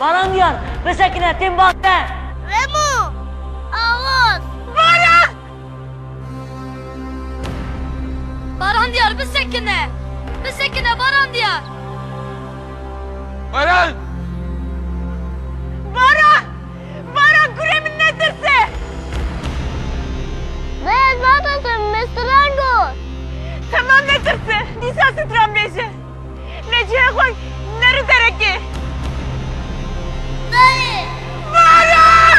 Baran diyar, bisekine têm bas te. Remo! Awaz! Baran! Baran diyar, bisekine! Bisekine Baran diyar! Baran! Baran! Baran kurê min netirse. Beyaz batası me stran got. Tamam netirse. Dîsa stran bêje. Lê cihê xwe neri derekê. Dayê. Baran!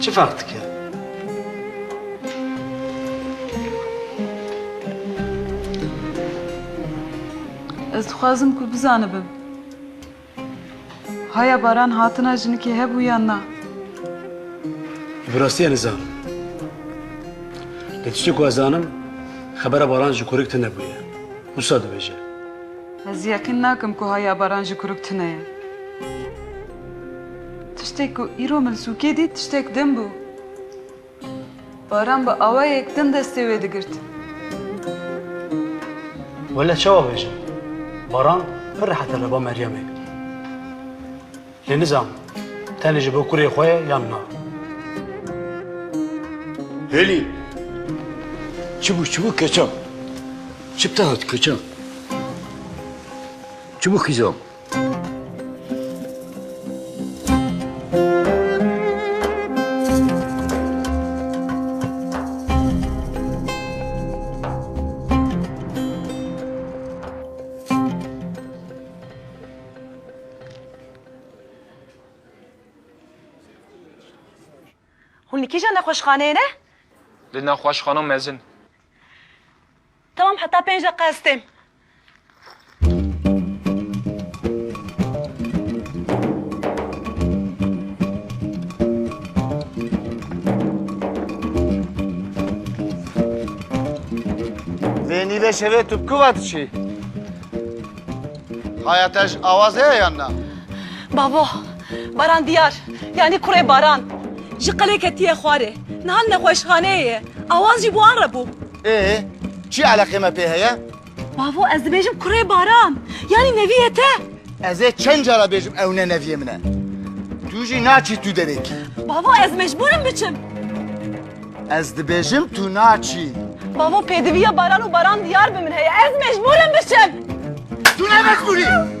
Çi ferq dike? Ez dixwazim ku bizanibim. Haya baran hatina jinikê hebû yan na? Bi rastiya nizam. Lê tiştê ku ez zanim xebera baran ji kuruk tune bûye. Wisa dibêje. Ez yeqîn nakim ku haya baran ji kuruk tune ye. Tiştê ku îro min sûkê dît tiştek din bû. Baran bi awayek din destê wê digirt. Wele çawa bêjim? Baran pir rehet e li ba Meryemê. Lê nizam tenê ji bo kurê xwe ye yan na. Hêlî! Çi bû çi bû keçan? Çi te hat keçan? Çi bû xizam? Hûn li kîjan nexweşxaneyê ne? Li nexweşxana mezin. Tamam heta pênc deqa ez têm. Zeyni de şevê tu ku vat çi? Haya te ji awaz heye yan na? Babo, Baran diyar. Yani kurê Baran. Ji qelê ketiye xwarê. Niha li nexweşxaneyê ye. Awaz jî bo an re bû. Ê, çi eleqê me pê heye? Bavo ez dibêjim kurê Baran. Yanî nevî ye te? Ez ê çend cara bêjim ew ne neviyê min e. Tu jî naçî tu derê kî. Bavo ez mecbûrim biçim. Ez dibêjim tu naçî. Bavo pêdiviya Baran û Baran diyar bi min heye. Ez mecbûrim biçim. Tu ne mecbûrî.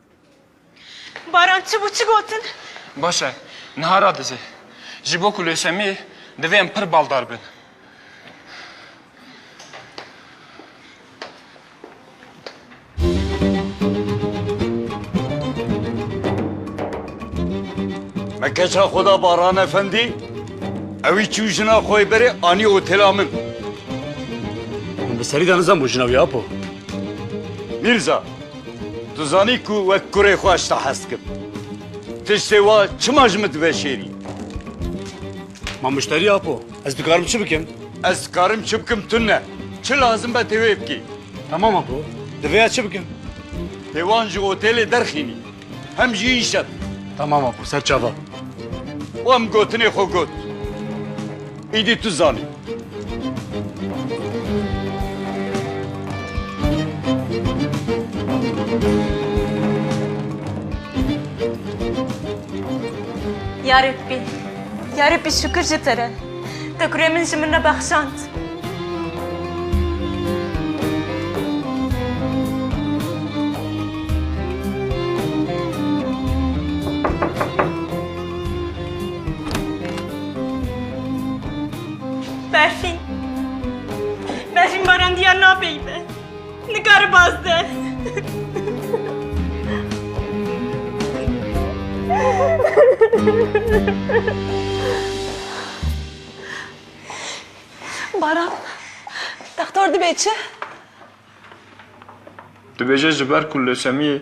Baran çi bû çi gotin? Baş e. Niha radizê. Ji bo ku lêşemê divê em pir baldar bin. Me keça xwe da Baran Efendî, ewî çû jina xwe yê berê anî otêla min. Min bi serî de nizanbû jina wî Apo. Mîrza, Tu zanî ku wek kurê xwe ji te hez dikim. Tiştê wa çima ji min diveşêrî? Ma muşterî Apo, ez dikarim çi bikim? Ez dikarim çi bikim tune ne. Çi lazim be tê wê bikî. Temam Apo, divê ez çi bikim? Tê wan ji otelê derxînî. Hem jî îşe bi. Temam Apo, ser çavan. Wan gotinê xwe got. Îdî tu zanî. Ya Rebbî, ya Rebbî şukir ji te re. Te kurê min ji min re bexşand. Berfîn. Berfîn baran diyar napeyibe. Nikare bazde. Baran. Doktor dibe çi? Dibêje ji ber ku leusemiyê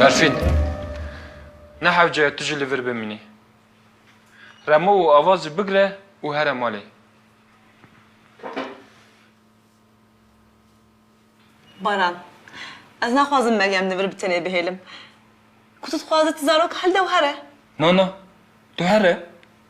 Berfîn, ne hewce ye tu jî li vir bimînî. Remo û Avazî bigire û here malê. Baran, ez naxwazim Meryem li vir bi tenê bihêlim. Ku tu dixwazî ti zarok hilde û here. Na na, tu here.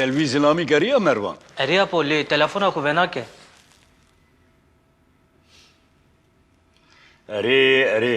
Telvî zilamî keriya Mervan? Eriya po lê telefona xwe venake. Erê erê.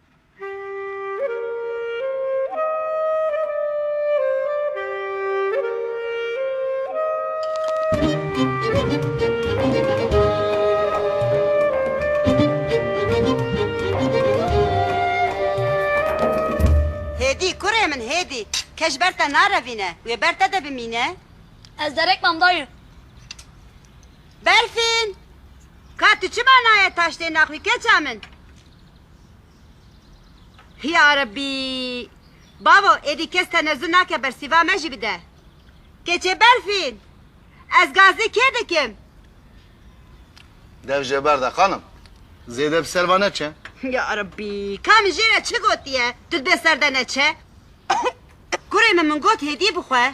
Hêdî kurê min hêdî. Ke ji ber te narevîne, wê ber te de bimîne? Ez derek mam dayî. Berfîn! Ka tu çima nayê taştê naxwî keça min? Hiya Rebbi! Bavo, êdî kes tenezû nake bersîva me jî bide. Keçê Berfîn! Ez gazê kê dikim? Dev jê ber de xanim. Zêde bi ser va neçe. Ya Rebbi! Ka min jê re çi gotiye, tu dibê ser de neçe? Kurê min min got hêdî bixwe.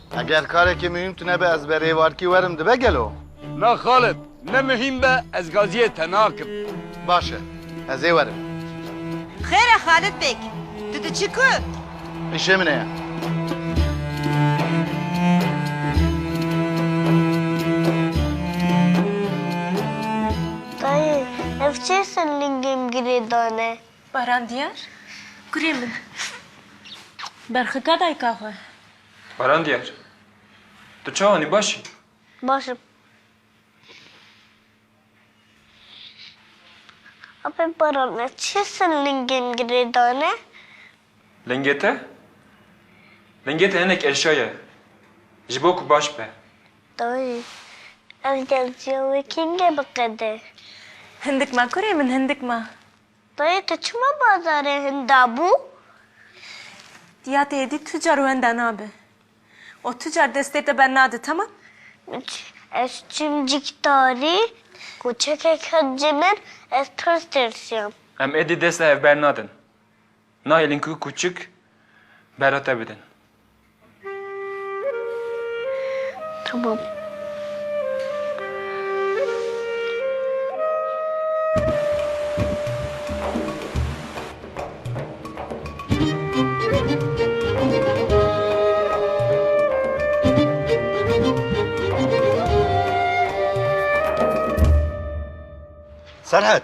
Eger karekî muhîm tune be ez berê warkî werim dibe gelo? Na Xalid, ne muhîm be ez gaziyê te nakim. Baş e, ez ê werim. Xêr e Xalid bêg, tu diçî ku? Îşê min heye. Dayê, ev çê sirlingên girê dane? Baran Diyar, kurê min. Berxika dayika xwe. Baran Diyar. Tu çawa nî baş î? Baş im. Apê Baran ez çê ser lingên girê dane? Lingê te? Lingê te hinek eşya ye. Ji bo ku baş be. Dayî, ez gelciya wê kengê biqede? Hindik ma kurê min, hindik ma. Dayê te çima bazarê hinda bû? Diya te êdî tucar wenda nabe. O tucar destê te bernade temam. Min çi? Ez çim cîkdarî, koçekek hat ji min, ez tirs tirsiyam. Em êdî dest li hev bernadin. Nayê linku kûçik bera te bidin. Tamam. Serhat!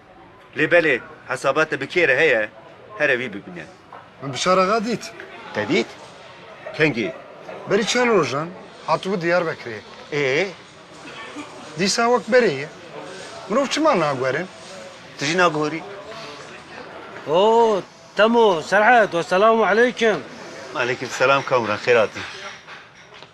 Lê belê hesaba te bi kê re heye here wî bibîne. Min Bişar axa dît. Te dît? Kengî? Berî çend rojan hatibû Diyarbekirê. Ê? Dîsa wek berê ye. Mirov çima naguherin? Tu jî naguherî? O, Temo, Serhet, weselamu aleykum. Aleykum selam Kamran, xêr hatî.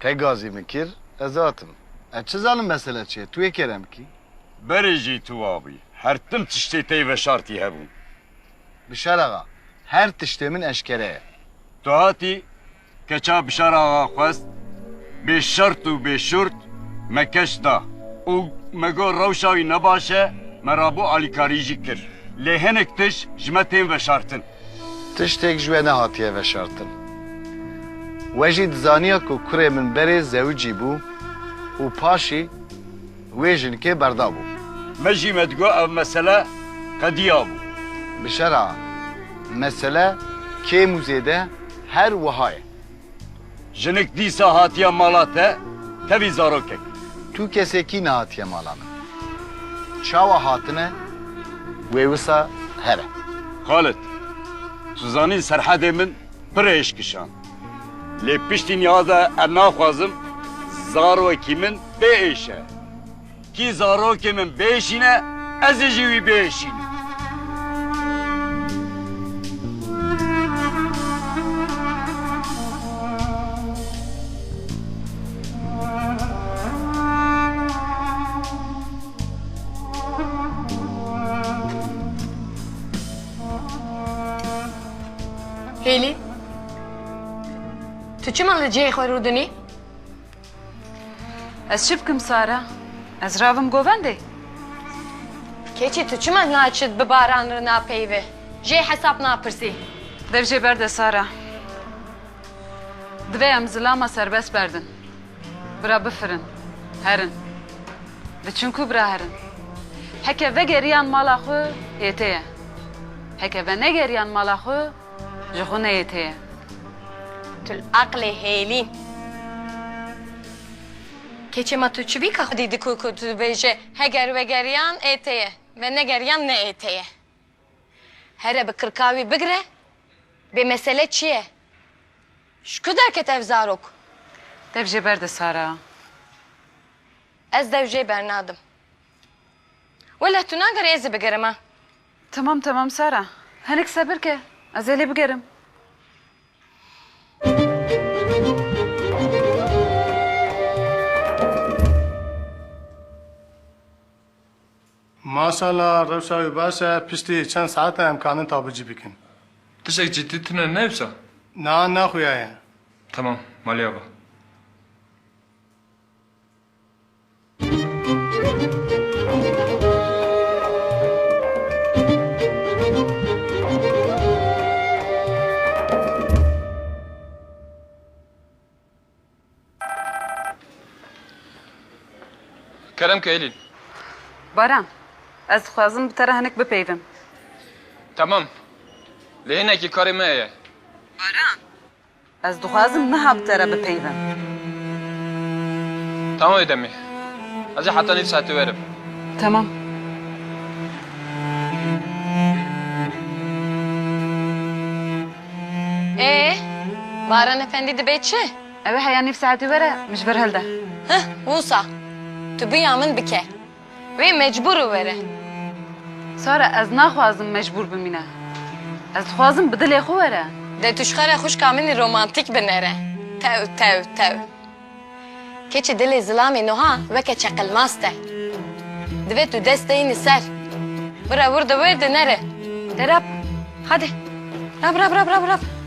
Te gazî min kir, ez hatim. Ez çi zanim mesele çi ye, tu yê kêrem kî? Berê jî tu wa bûyî. Her tim tiştê tey veşartî hebûn. Bişar axa, her tiştê min eşkere ye. Tu hatî, keça Bişar axa xwest, bê şert û bê şurt me keç da û me got rewşa wî ne baş e, me rabû alîkarî jî kir. Lê hinek tişt ji me tên veşartin. Tiştêk ji we nehatiye veşartin. We jî dizaniya ku kurê min berê zewicî bû û paşî wê jinkê berdabû. Me jî me digot ev mesele qediya bû. Bişera, mesele kêm û zêde her wiha ye. Jinik dîsa hatiye mala te, tevî zarokek. Tu kesê kî nehatiye mala min. Çawa hatine wê wisa here. Xalid, tu zanîn Serhedê min pir hêj kişand. Lê piştî niha de em naxwazim zarokî min bê êşe. Kî zarokê min bêşîne, ezî jî wî bêşînim. Hêlî, tu çima li cihê xwe rûdinî? Ez çi bikim Sara? Ez rabim govendê? Keçî tu çima naçit bi baran re napeyivî, jê hesap napirsî? Dev jê berde Sara. Divê em zilama serbest berdin. Bira bifirin, herin. Diçin ku bira herin? Heke vegeriyan mala xwe hêtê ye. Heke venegeriyan mala xwe Ji xwe neyê tê ye. Tu li aqilê hêlî. Keçê ma tu çibîka xwedî diku ku tu dibêje heger vegeriyan ê tê ye ve negeriyan ne ê tê ye. Here bi kirka wî bigire bê mesele çi ye? Ji ku derket ev zarok? Dev jê berde Sara. Ez dev jê bernadim. Wele tu nagerî ez ê bigerim a. Temam temam Sara. Hinek sebir ke. Ez ê lê bigerim. Maşala rewşa wî baş e piştî çend saete em kanin tabicî bikin. Tiştek cîddî tune ne wisa? Na na xuya ye. Temam maliya ba. Kerem Keylî. Baran, ez dixwazim bi te re hinek bipeyivim. Temam. Lê hinekî karê me ye. Baran. Ez dixwazim niha bi te re bipeyivim. Tamam wê demê. Ez ê heta nîv saetê werim. Tamam. Ee, Baran Efendî dibe çi? Ew ê heya nîv saetê were min ji vir hilde. Hih, wisa. Tu biya min bike. Wê mecbûr were. Sara ez naxwazim mecbûr bimîne. Ez dixwazim bi dilê xwe were. De tu ji xwe re xwişka min romantîk binêre. Tew tew tew. Keçî dilê zilamê nuha weke çeqilmaz te. Divê tu dest deîn li ser. Bire wir di wir de nere. De rab. Hadi. Rab rab rab rab rab.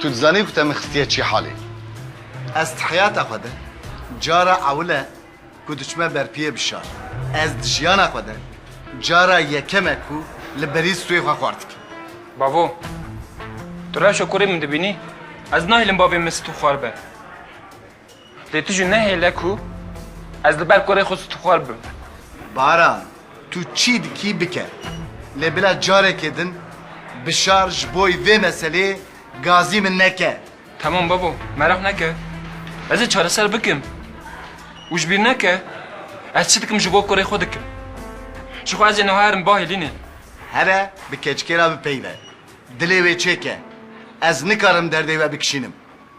Tu dizanî ku te min xistiye çi halê? Ez di heyata xwe de cara ewil e ku diçime berpiyê bi şar. Ez di jiyana xwe de cara yekem e ku li berî stûyê xwe xwar dikim. Bavo, tu rewşa kurê min dibînî? Ez nahêlim bavê min stû xwar be. Lê tu jî nehêle ku ez li ber kurê xwe stixwar bim. Baran, tu çi dikî bike. Lê bila carekê din bişar ji bo vê meseleyê gazî min neke. Temam babo, meraq neke. Ez ê çareser bikim. Û ji bîr neke ez çi dikim ji bo kurê xwe dikim. Ji xwe ez ê niha herim bahê Lînê. Here bi keçikê re bipeyve. Dilê wê çêke. Ez nikarim derdê we bikişînim.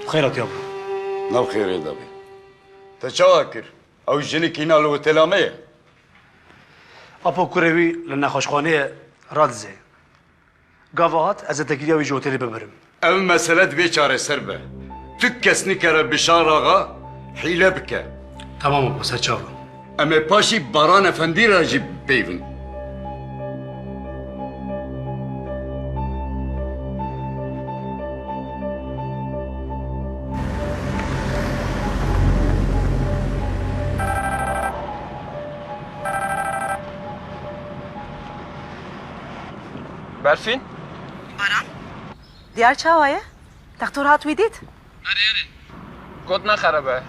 Tu xêr hatiya bû. Nav xêrê de bê. Te çawa kir? Ew jinik îna li otêla me ye. Apo kurê wî li nexweşxaneyê radizê. Gava hat ez ê tekîliya wî ji otêlê bibirim. Ev mesele divê çareser be. Tu kes nikare Bişar axa hîle bike. Temam Apo, serçav im. Em ê paşî Baran Efendî re jî peyvin. Berfîn? Baran? Diyar çawa ye? Textor hat wî dît? Got nexeribe.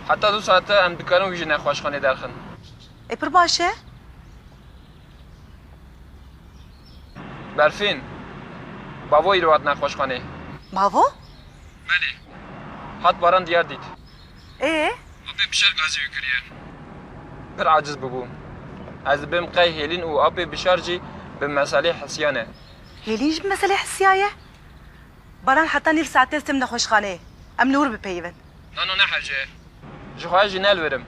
Heta du sate em dikarin wî ji nexweşxanê derxin. E pir baş e. Berfîn, bavo îro hat nexweşxanê. Bavo? Belê. Hat baran diyar dît. Ê? Apê bi şer gazê wî kiriye. Pir aciz bûbû. Ez dibêm qey Hêlîn û apê bi şer jî bi meselê hisiyan e. Hêlîn jî bi meselê hisiyaye? Baran heta nîv saetê li tim nexweşxaneyê. Em li wir bipeyivin. Na na nehece. Ji xwe jî ne li wirim.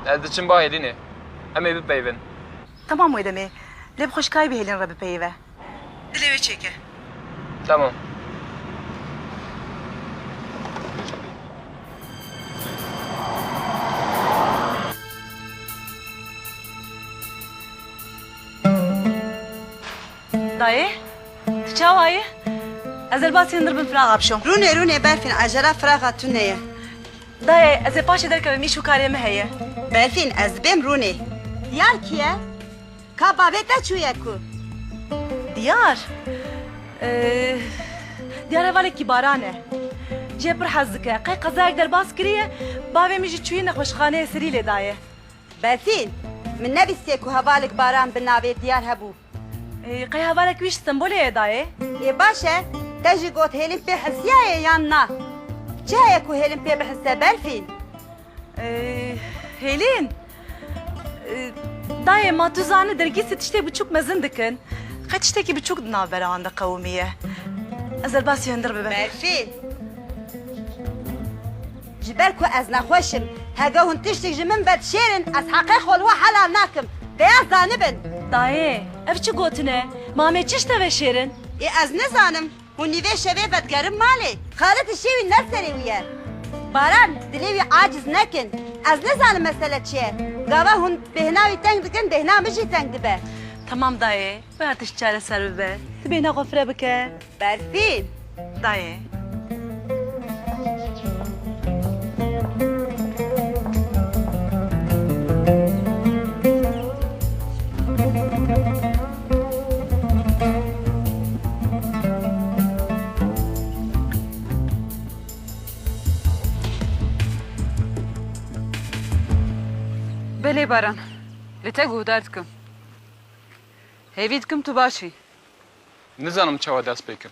Ez diçim ba Hêlînê. Em ê bipeyivin. Temam wê demê. Lê bi xweşikayê bi Hêlîn re bipeyive. Dilê wê çêke. Temam. Dayê, tu çawa yî? Ez ê basî hundir bin firaxa bişom. Rûnê, rûnê Berfîn, ecela firaxa tu neye. Dayê, ez ê paşê derkevim îş û karê min heye. Berfîn, ez dibêm rûnê. Diyar kî ye? Ka bavê te çûye ku? Diyar? Diyar hevalekî baran e. Jê pir hez dike. Qey qezayek derbas kiriye, bavê min jî çûye nexweşxaneyê serî lê daye. Berfîn, min nebîstiye ku hevalek baran bi navê Diyar hebû. Qey hevalek wî ji Stenbolê ye dayê? Ê baş e, te jî got hêlin pê hilsiyaye yan na? Çi heye ku hêlin pê bihilse belfî? Hêlin? Dayê ma tu zani dergîsê tiştê biçûk mezin dikin. Qey tiştekî biçûk di navbera wan de qewimiye. Ez derbasî hundir bibe. Belfî. Ji ber ku ez nexweş im, hege hûn tiştik ji min vedişêrin, ez heqê xwe li we helal nakim. Bêyaz zanibin. Dayê, ev çi gotin e? Mamê çi şte veşêrin? Ê ez nizanim. Hûn nîvê şevê vedigerin malê. Xalid di şêwî ne serê wî ye. Baran, dilê wî aciz nekin. Ez nizanim mesele çi ye. Gava hûn bêhna wî teng dikin, bêhna min jî teng dibe. Temam dayê, bêhna tişt çareser bibe. Tu bêhna xwe fire bike. Berfîn, dayê. Belê Baran, li te guhdar dikim. Hêvî dikim tu baş î. Nizanim çawa dest pê kim.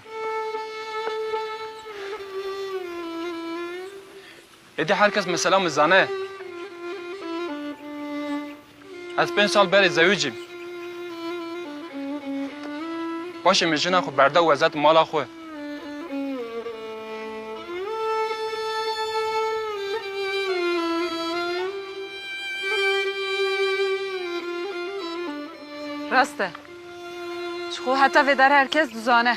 Êdî her kes mesela min zane. Ez pênc sal berê zewîc im. Paşê min jina xwe berda û ez hetim mala xwe. Rast e. Ji xwe heta vê dar her kes dizane.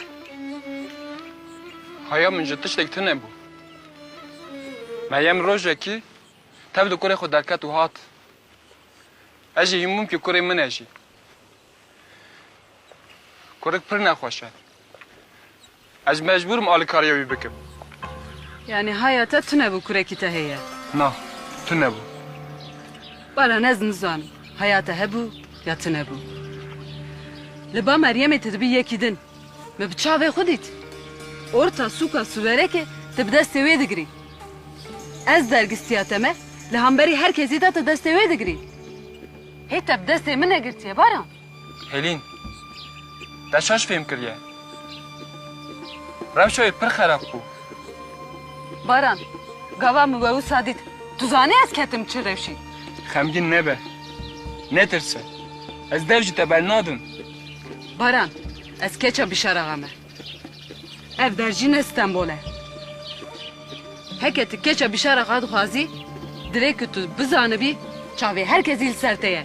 Haya min ji tiştek tune bû. Meryem rojekî tev li kurê xwe derket û hat. Ez jî hîmûm ki kurê min e jî. Kurik pir nexweş e. Ez mecbûr im alikariya wî bikim. Yanî haya te tune bû kurekî te heye? Na, tune bû. Baran ez nizanim haya te hebû ya tune bû. Li ba Meryemê tu dibî yekî din. Min bi çavê xwe dît. Orta sûka sûverekê tu bi destê wê digirî. Ez dergistiya te me li hemberî her kesî de tu destê wê digirî. Hê te bi destê min negirtiye Baran? Helîn, te şaş fêm kiriye. Rewşa wê pir xerab bû. Baran, gava min we wisa dît. Tu zanî ez ketim çi rewşî. Xemgîn nebe. Netirse. Ez dev ji te bernadim. Baran, ez keça Bîşaraxa me. Ev der jî ne Stenbol e. Heke tu keça bîşara xwe dixwazî, divê ku tu bizanibî çavê her kesî li ser te ye.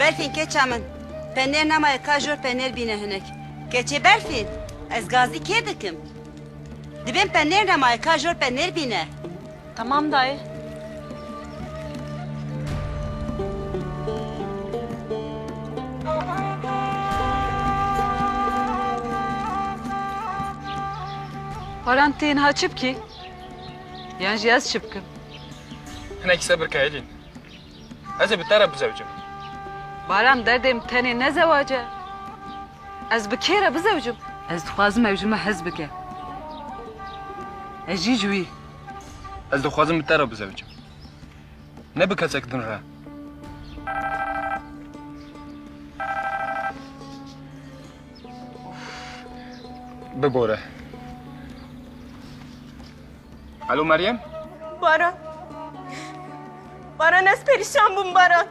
Berfîn keça min. Penêr nemaye ka jor penêr bîne hinek. Keçê Berfîn, ez gazî kê dikim? Dibên penêr nemaye ka jor penêr bîne. Tamam dayê. Baran tê niha çi bikî? Yan jî ez çi bikim? Hinek sebir ke Elîn. Ez ê bi te re bizewicim. Baran derdê min tenê ne zewac e. Ez bi kê re bizewicim? Ez dixwazim ew ji min hez bike. Ez jî ji wî. Ez dixwazim bi te re bizewicim. Ne bi kesek din re. Bibore. Alo Meryem? Baran. Baran ez perişan bûm Baran.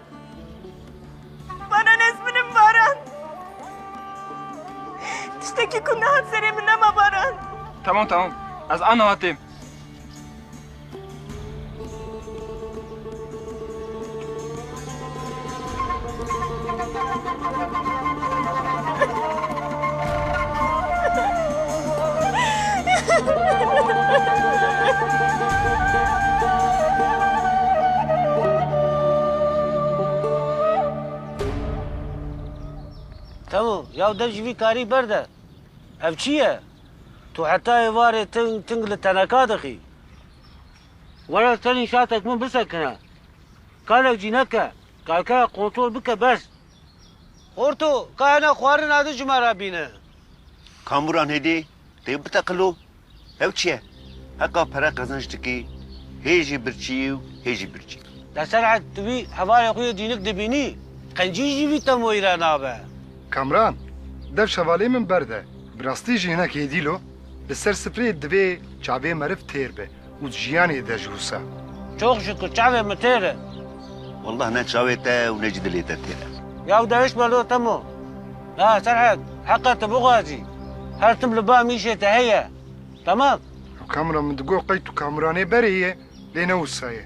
Baran ez min im Baran. Tiştekî ku nehat serê min nema Baran. Temam temam ez aniha têm. Temo, ya dev ji vî karî berde. Ev çi ye? Tu heta êvarê ting ting li teneka dixî. Were serî şatek min bisekine. Karek jî neke. Karkera kontrol bike bes. Horto, ka hene xwarin adi ji me re bîne. Kamuran hêdî tê biteqilo, Hev çi ye? Heqa pere qezenc dikî, hê jî birçî û hê jî birçî. De Serhad, tu vî hevalê xwe yê dînik dibînî, qencî jî vî temoyî re nabe. Kamran, dev şevalê min berde. Bi rastî jî hinek hêdîlo, li ser sifreyê divê çavê meriv têr be. û di jiyanê de ji wisa. Çok ji ku çavê min têr e. Wallah ne çavê te û ne jî dilê te têr e. Yaw de hişt be lo Temo. La Serhet, heqa te bixwazî. Her tim li ba mîşê te heye. Temam? Kamran min digot qey tu Kamranê berê yê lê ne wisa ye.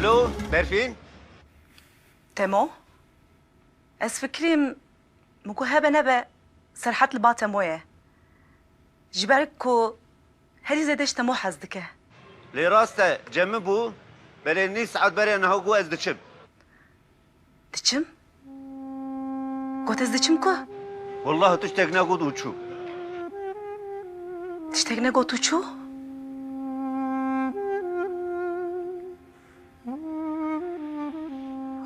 Alo, Berfîn? Temo? Ez fikirîm min ku hebe nebe Serhat li ba Temo ye. Ji ber ku Herî zêde ji Temo hez dike. Lê rast e cemi bû. Belê nîv saet berê niha got ez diçim. Diçim? Got ez diçim ku? Wellahî tiştek negot û çû. Tiştek negot û çû?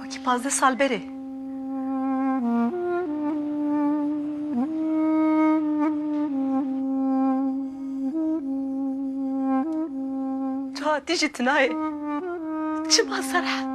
Wekî pazdeh sal berê. Tu hatî ji tinayê. Çima Serhet?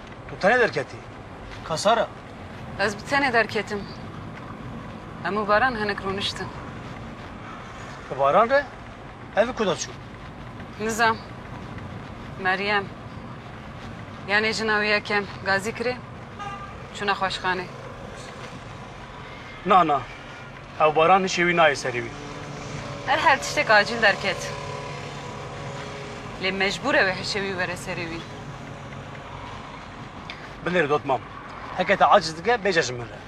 Tu tenê derketî? Ka Sara? Ez bi tenê derketim. Em û Baran hinek rûniştin. Bi Baran re ev ku de çû? Nizam. Meryem. Yanê jina wî yekem gazî kirê, çû nexweşxanê. Na na. Ew baran hişê wî nayê serê wî. Her her tiştek acîl derket. Lê mecbûr e wê hişê wî were serê wî. Bilêre dot mam. Heke te aciz dike bêje ji min re.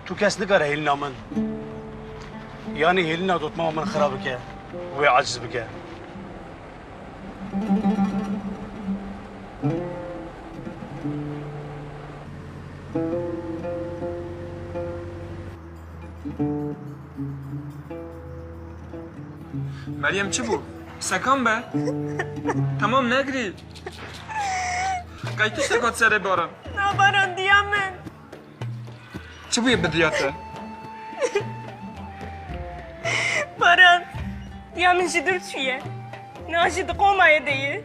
Tu kes nikare hêlina min yanî hêlina dotmama min xira bike û wê aciz bike. Meryem çi bû? Sekan be? Tamam negirî. Qey tiştek hat serê baran? Na baran diya min. Çi bûye bi diya te? Baran diya min ji dir çûye. Na ji diqomayê de ye.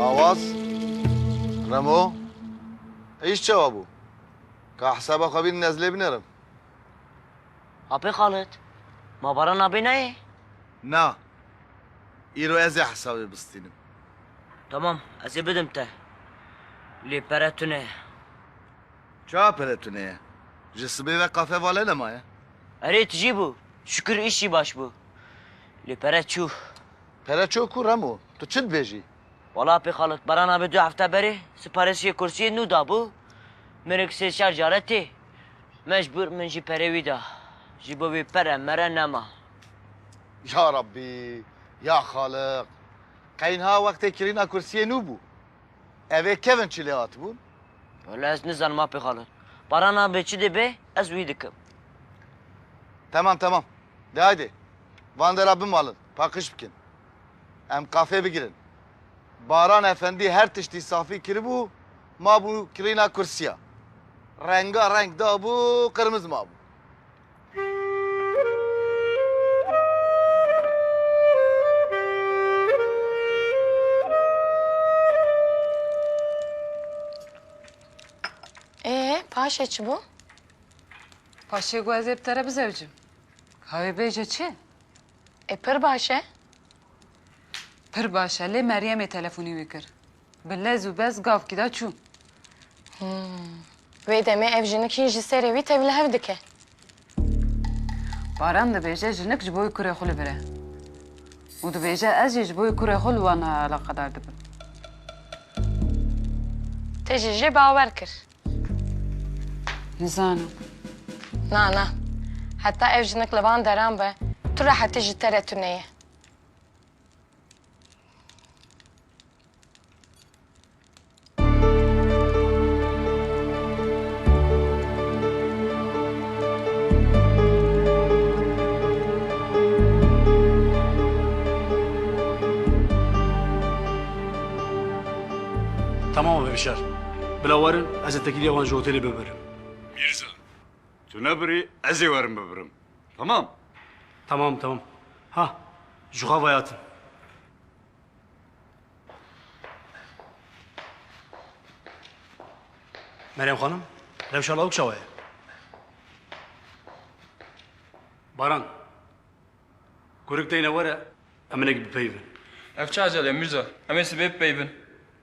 Awaz, Remo, êyîş çawa bû? Ka hesaba xwe bînin ez lê binerim. Apê Xalit, ma baran nabê nayê? Na, îro ez ê hesabê bistînim. Tamam, ez ê bidim te. Lê pere tune ye. Çawa pere tune ye? Ji sibê ve kafe vale nemaye. Erê tijî bû, şikir îş jî baş bû. Lê pere çû. Pere ço ku Remo, tu çi dibêjî? Wala pê xalotbaran a bi du hefte berê siparisiyê kursiyê nû dabû, mirik sê çar care tê. Mecbûr min jî perê wî da. Ji bo wî pere mere nema. Ya Rabbî, ya Xaliq! Qey niha wextê kirîna kursiyê nû bû. Ev ê kevin çi lê hatibûn? Wala ez nizanim a pê xalotbaran a bi çi dê bê, ez wî dikim. Temam temam. De haydê van dera bimalin, paqij bikin. Em qafê bigirin. Baran Efendî her tiştî safî kiribû, mabû kirîna kursiya. Renga reng dabû, qirmiz mabû. Ee, paşê çi bû? Paşê got ez ê bi te re bizewicim. Ka wê bêje çi? E pir baş e. Pir baş e lê Meryemê telefonî wî kir. Bi lez û bez gavkî da çû. Wê demê ev jinik hîn ji serê wî tevli hev dike. Baran dibêje jinik ji bo wê kurê xwe li vir e. Û dibêje ez jî ji bo wê kurê xwe li wan eleqedar dibim. Te jî jê bawer kir. Nizanim. Na na. Heta ev jinik li van deran be, tu rehetî ji te re tune ye. Tamam e bibişer. Bila werin ez ê tekîlîya wan ji otelê bibirim. Mîrza, Tu nebirî ez ê werin bibirim. Temam? Temam temam. Ha ji xwe ve hatin. Meryem xanim, rewşa lawik çawa ye? Baran, kurik teyne were em hinek bipeyivin. Ev çi ecel e Mîrza? Em ê sibê bipeyivin.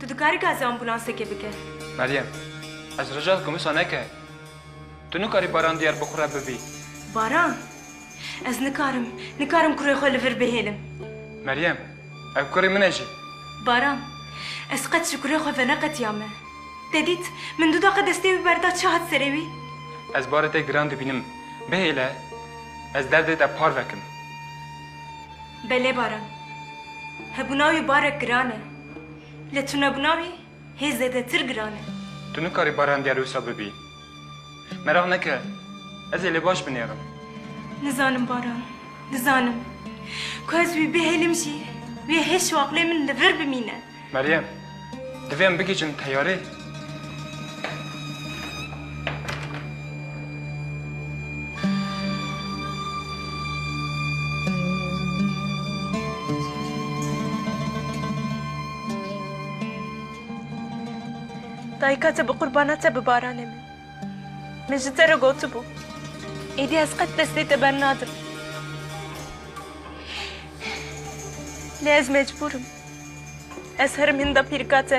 Tu dikarî gazê ambûlansekê bike. Meryem, ez rija dikim wisa neke. Tu nikarî Baran Diyarbekir re bibî. Baran, ez nikarim, nikarim kurê xwe li vir bihêlim. Meryem, ew kurê min e jî. Baran, ez qet ji kurê xwe veneqetiyame. Te dît, min du deqe destê wî berda çi hat serê wî? Ez barê te giran dibînim. Bihêle, ez derdê te par vekim. Belê Baran, hebûna wî barek giran e. Lê tunebûna wî hê zêdetir giran e. Tu nikarî barendîya lûsa bibî. Meraq neke, ez ê lê baş binêrim. Nizanim Baran, nizanim. Ku ez wî bihêlim jî, wê hê şiwaqlê min li vir bimîne. Meryem, divê em bigihîjin teyarê. Dayika te bi qurbana te bi baranê min. Min ji te re gotibû. Êdî ez qet destê te bernadim. Lê ez mecbûr im. Ez herim hinda pîrika te.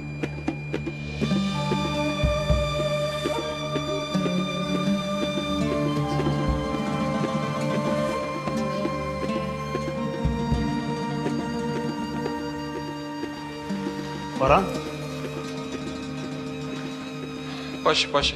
Baran? Baş e, baş e.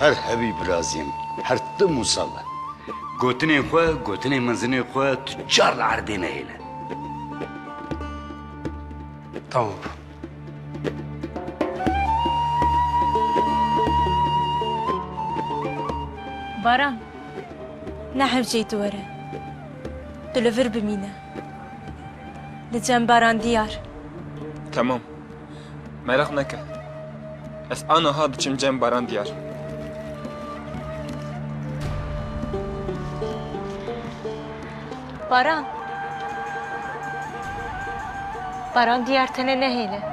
Her hevî biraziyem, her tim û sal be. Gotinên xwe, gotinên mezinê xwe tu çar li erdê nehêle. Tamam. Baran, ne hevceyî tu were. Tu li vir bimîne. Li cembaran diyar. Temam. Meraq neke. Ez aniha diçim cembaran diyar. Baran. Baran diyar tenê nehêle.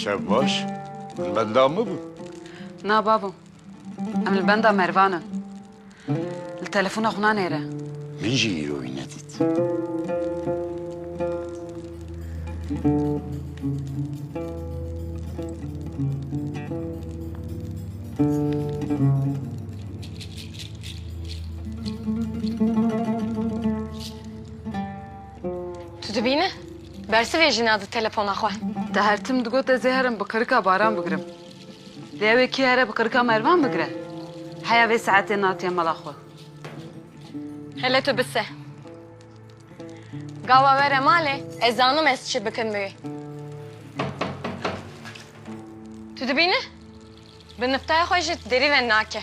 Çav baş, min benda min bû. Na babo, em li benda Mervan in. Li telefona xwe nanêre. Min jî îro wî nedît. Tu dibîne? Bersivê jina di telefona xwe. Te her tim digot ez ê herim bi qirika Baran bigirim. Lê ew ê kê here bi qirika Mervan bigire? Heya vê saetê natiye mala xwe. Hele tu bi se. Gawa were malê ez zanim ez çi bikim bi wê. Tu dibîne? Bi niftaya xwe jî derî ve nake.